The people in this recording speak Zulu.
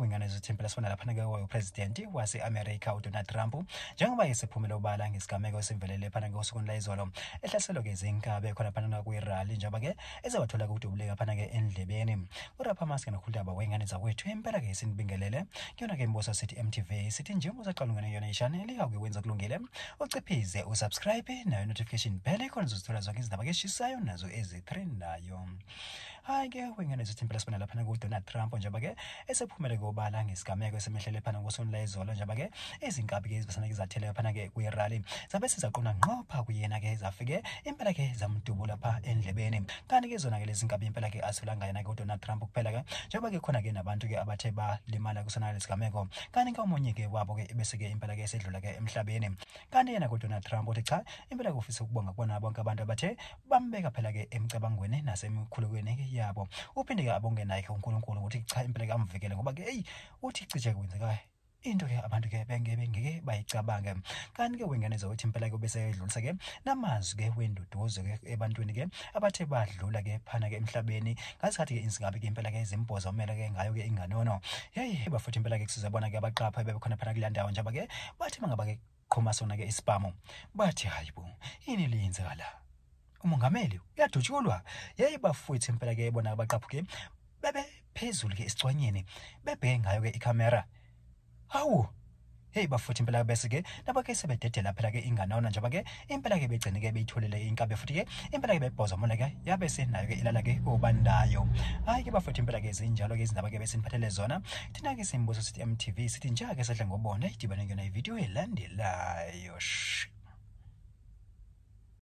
kwingane zethempela sifana lapha nakewayo upresidenti wase-amerika udonald trump njengoba esephumele ubala ngesigameko esivelele phana ngosukwini layizolo ehlaselwa-ke zinkabe khona phana nakwirali njengoba-ke ezewathola kudubuleka phana-ke endlebeni uraphamaske nokhuludaba wengane zakwethu impela-ke sinibingelele kuyona-ke imbuso sithi mtv sithi njengoba usaqalungene yona ishane likakuke wenza kulungile uciphize usubscribe nayo notification bell khona uzozithola zonke izindaba keshisayo nazo ezitrendayo hayi ke wengane zithi impela sibona laphana kudonald trump njengoba ke esephumele kobala ngesigameko esemehlele phana ngosonila izolo njengoba ke izinkabi ke ezibasana ke zathele phana ke kwi-rally zabe sizaqonda nqopha kuyena ke zafike impela ke zamdubula pha endlebeni kanti ke zona ke lezi nkabi impela ke asolanga yena ke udonald trump kuphela ke njengoba ke khona ke nabantu ke abathe balimala kusona lesigameko kanti ke omunye ke wabo ke ebeseke impela ke esedlula ke emhlabeni kanti yena kodwa Trump uthi cha impela ke ufisa ukubonga kubona bonke abantu abathe bambeka phela ke emcabangweni nasemikhulekweni yabo uphinde ke abonge naye ke uNkulunkulu ukuthi cha impela ke amvikele ngoba ke hey uthi cije kwenzeka into ke abantu ke bengeke ngeke bayicabange kanti ke wengeneza ukuthi impela ke bese edlulisa ke namazwi ke wenduduzo ke ebantwini ke abathe badlula ke phana ke emhlabeni ngasikhathi-ke insingabi-ke impela-ke izimboza umele-ke ngayo-ke inganono yeyi bafutha impela-ke kusiza bona-ke abaqapha ebebekhona phana kuleya ndawo njaba-ke bathi mangaba-ke qhuma sona-ke isibhamu bathi hayi bo yini liyenzeka la umongameli uyadutshulwa yeyi bafwethu impela-ke bona abaqaphuke bebe phezulu-ke esicwanyeni bebheke ngayo-ke ikhamera Hawu, Hey bafuthi impela ke bese ke laba ke sebededela phela ke ingane ona njengoba ke impela ke begcine ke beyitholele inkabe futhi ke impela ke bebhoza mona ke yabe senayo ke ilala ke obandayo hayi ke bafuthi impela ke zinjalo ke izindaba ke besiniphathele zona thina ke simbuzo sithi MTV sithi njake sedla ngobona idibane ngena ivideo elandelayo